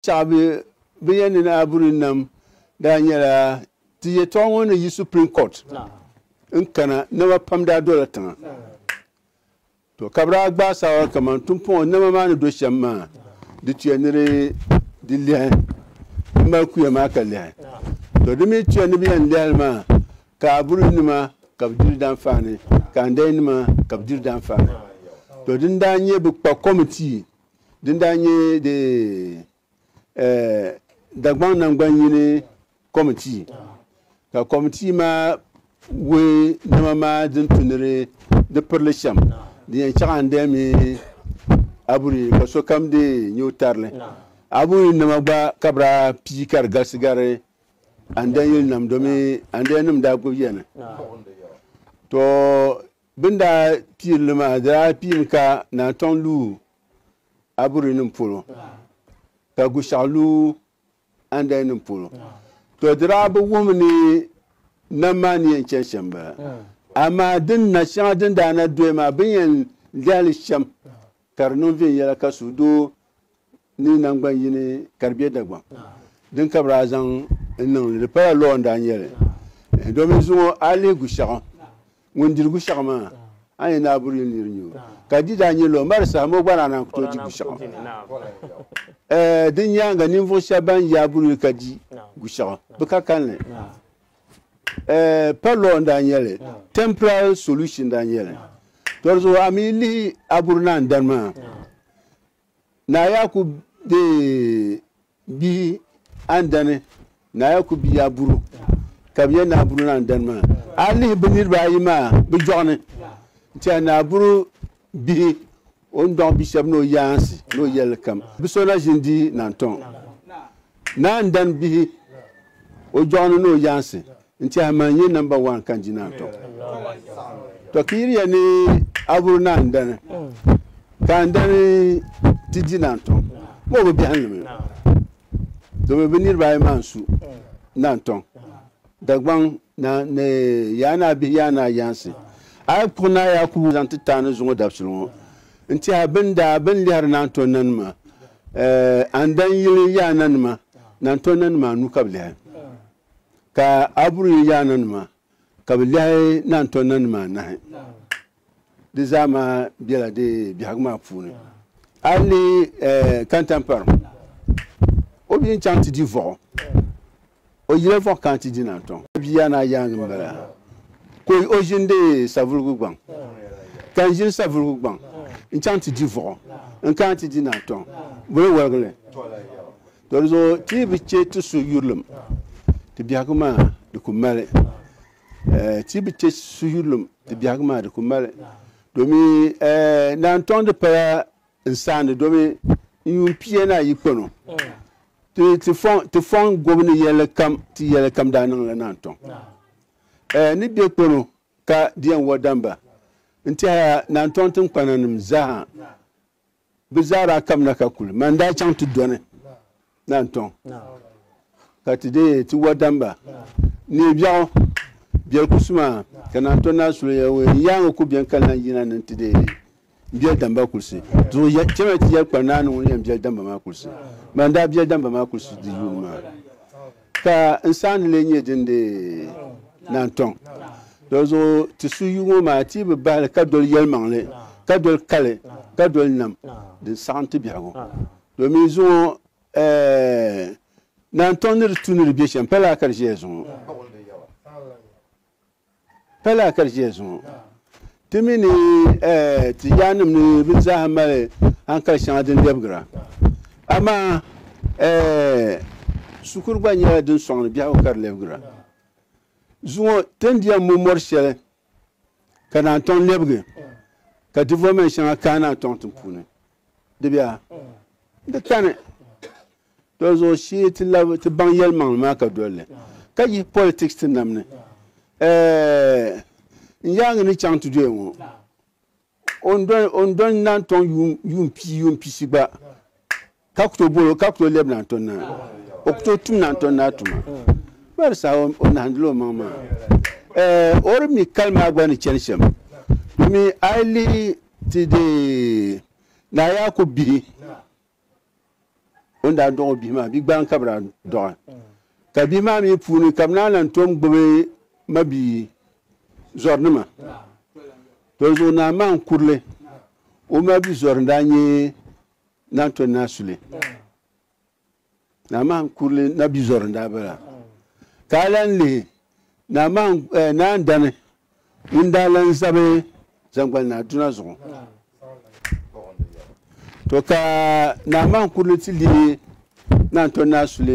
Tɛɣu bɛ bɛ ya ni Naabuni nam daa nyɛla ti yɛtɔɣa ŋɔ ni yi Supreme Court n kana nama pam daa dola tiŋa to ka bɛ daa gbaai saawara kaman tumpɔŋɔ nama maa ni do shɛm maa di tuya ni di lɛhi di mali kuya maa ka lɛhi to di mi tuya ni bɛ yɛn lɛhi li maa ka Aburi nima ka bɛ diri danfaani ka Andɛi nima ka bɛ diri danfaani to din daa nyɛ bɛ kpa kɔmitii Din daa nyɛ di Dagbaŋ Naŋgban yini Kɔmitii ka Kɔmitii maa wuhi nɛma maa din tu ni di pirili shɛm di yɛn chaɣa n-dee mi Aburi ka sokam dee nyɛ o tarili. Aburi nɛma gba ka bɛ daa pii ka di galisi gari Andɛn yilinima domi Andɛnnim daa gbibi ya ni. Bɛ ni daa piiri li maa, di daa piimi ka Naa Tɔŋ lu Aburinim polo, ka Gushɛɣu lu Andalinim polo. Tɔ! Di daa bi wuhimi ni nam maa ni yɛn chani shɛm m-bala. Amaa din na shɛŋa din daa na doya maa, bɛ ni yɛn lihi li shɛm, ka di niŋ viɛnyɛla ka suhudoo ni nangbani yini ka di be Dagbaŋ din ka bɛ daa zaŋ n-niŋ li. Di pala law n-daa nyɛ li domin zuŋɔ a lihi Gushaɣu, ŋun diri Gushaɣu maa a ni yɛn naai buri yuli ni di nyu o. Ka di daa nyɛ law m-mali saha maa o gba daa naan ku tooi di Gushaɣu. Din nyaaŋa ninvuɣ shɛba ban yaai buri yuli ka di Gushaɣu bɛ ka kalinli. Pa law n-daa nyɛ li, temporal solution n-daa nyɛ li. Tɔ di zuɣu a mi lihi a buri naan dani maa. Naa yaa ku deei bihi andani, naa yaa ku biya buru, ka bɛ yɛn naai buru ni andani maa. A lihi bɛ niriba ayi maa bɛ jɔɣu ni, n-tiɛhi ni a buru bihi, o ni dɔɣi bi shɛba ni o yaansi ni o yɛlli kam. Bɛ so na ʒini di-i naantɔŋ, ni andani bihi, o jɔɣu ni ni o yaansi N tɛha maa n-nyɛ namba waan ka n-di naan tɔŋ. Tɔ ka yiri ya ni a vuri ni a ni dani, ka n dani ti di naan tɔŋ, m o bi biɛhinnima yo, domin bɛ niriba ayi maa n-su naan tɔŋ. Dagbaŋ naa ni yaa ni a bihi yaa ni a yaansi, a yi kpuɣi Naa Yaakubu zaŋ ti taani zuŋɔ dabisili ŋɔ, n tɛha bɛ ni daa bɛ ni lihiri naan tɔŋ nanima, a ni dan yili yaananima, naan tɔŋ nanima anu ka bɛ lihi. Ka a buri yi yaana nima ka bi lɛhi naan tɔnna nima anahi. Di zaa maa bela di biɛhigu maa puuni. A yi lihi Kantampari, o bi yi ni chaŋ ti di Vɔɣu, o yila Vɔɣu kana ti di naan tɔŋ. A bia yaana yaaŋa m-bala ka o ʒindi Savuligu gbaŋ. Ka n ʒini Savuligu gbaŋ n-chaŋ ti di Vɔɣu n-kana ti di naan tɔŋ, bɔ yi wɔligi li? To di zuɣu ti yi bi che ti su yurilim ti biɛhigu maa di ku mali eh, ti yi bi che su yurilim ti biɛhigu maa di ku mali domin eh, naan tɔŋ di pala n saandi domin n yuun pia naa yi kpano ti ti fɔŋ ti fɔŋ gobu ni yɛlli kam ti yɛlli kam daa niŋla naan tɔŋ eh, ni bɛ kpano ka di yɛn wɔ damba n tɛha naan tɔŋ tinkpana nim zaa Bɛ zaa daa kabina ka kuli ma n-daa chaŋ ti dɔni Nantɔŋ ka ti deei ti wadamba neei biɛɣu biɛli kusu maa ka Nantɔŋ naa su li yɛli ŋɔ n yaaŋa ku beni ka lan yina ni n-ti deei m biɛli damba kulisi. Zuɣu ya chɛmiya ti yɛli kpa naani ŋuni yɛn biɛli damba maa kulisi. Ban daa biɛli damba maa kulisi di yuuni maa. Ka n saani lee nyɛ din di naantɔŋ. Dolizuɣu ti su yu ŋɔ maa ti yi bi bahi li ka doli yɛlimaŋli, ka doli kali, ka doli nam, din saɣim ti biɛhigu. Domin zuŋɔ naantɔŋ ni di tu ni di be shɛm, pa lala ka di ʒiɛya zuŋɔ. Pala ka di ʒiya zuŋɔ. Ti mi ni Tijaaninim ni bɛ zaaha mali hankali shɛŋa din lɛbigira. Amaa shikuru gba nyɛla din sɔŋ ni biɛhigu ka di lɛbigira. Zuŋɔ ti ni di yɛn mo mɔri shɛli ka naan tɔŋ lɛbigi ka development shɛŋa kaai naan tɔŋ tiŋ puuni. Dibiya n ti tani doli zuɣu shee ti labi ti baŋ yɛlimaŋli maa ka dolli ka yihi politics ti nam ni eh, n yaangi ni chaŋ ti doya ŋɔ o ni dɔni naan tɔŋ yuun pii yuun pishi gba ka ku tooi bolo ka ku tooi lɛbi naan tɔni naa o ku tooi tum naan tɔni naa tuma bari saha o nahandila o maŋ maa eh, o di mi kali maa gba ni chani shɛm domin a yi lihi Ti deei Naa Yaakubu bihi o ni daa dɔɣi o bihi maa, bigbaan ka bɛ daa dɔɣi, ka bihi maa mi puuni ka bɛ naan lan tom gbibi mabia zɔrinima. Tɔlizuɣu Naa Maan Kurili, o mabia zɔri n-daa nyɛ Naantɔni Naa Sule. Naaman kurili na bi zɔri n-daa bala, ka a lan lihi Naaman, eh, Naa Ndani ŋun daa lan zabi zaŋgbani naa duna zuɣu. To ka Naaman kurili ti lihi Naa Ntɔri Naa Sule.